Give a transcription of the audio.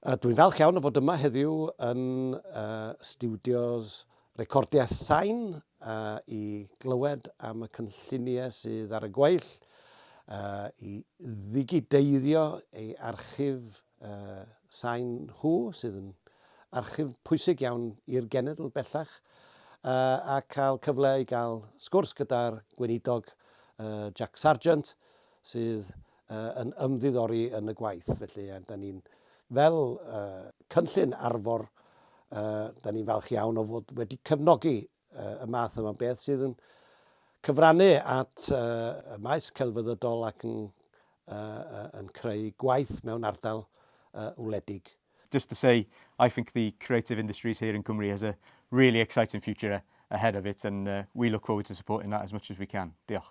Dwi'n falch iawn o fod yma heddiw yn stiwdios recordiau sain i glywed am y cynlluniau sydd ar y gweill i ddigideiddio ei archif sain nhw, sydd yn archif pwysig iawn i'r genedl bellach, a cael cyfle i gael sgwrs gyda'r Gweinidog Jack Sargeant, sydd yn ymddiddori yn y gwaith. Felly, da ni'n fel cynllun arfor, da ni'n falch iawn o fod wedi cefnogi y math yma beth sydd yn cyfrannu at y maes celfyddydol ac yn, yn creu gwaith mewn ardal wledig. Just to say, I think the creative industries here in Cymru has a really exciting future ahead of it and we look forward to supporting that as much as we can. Diolch.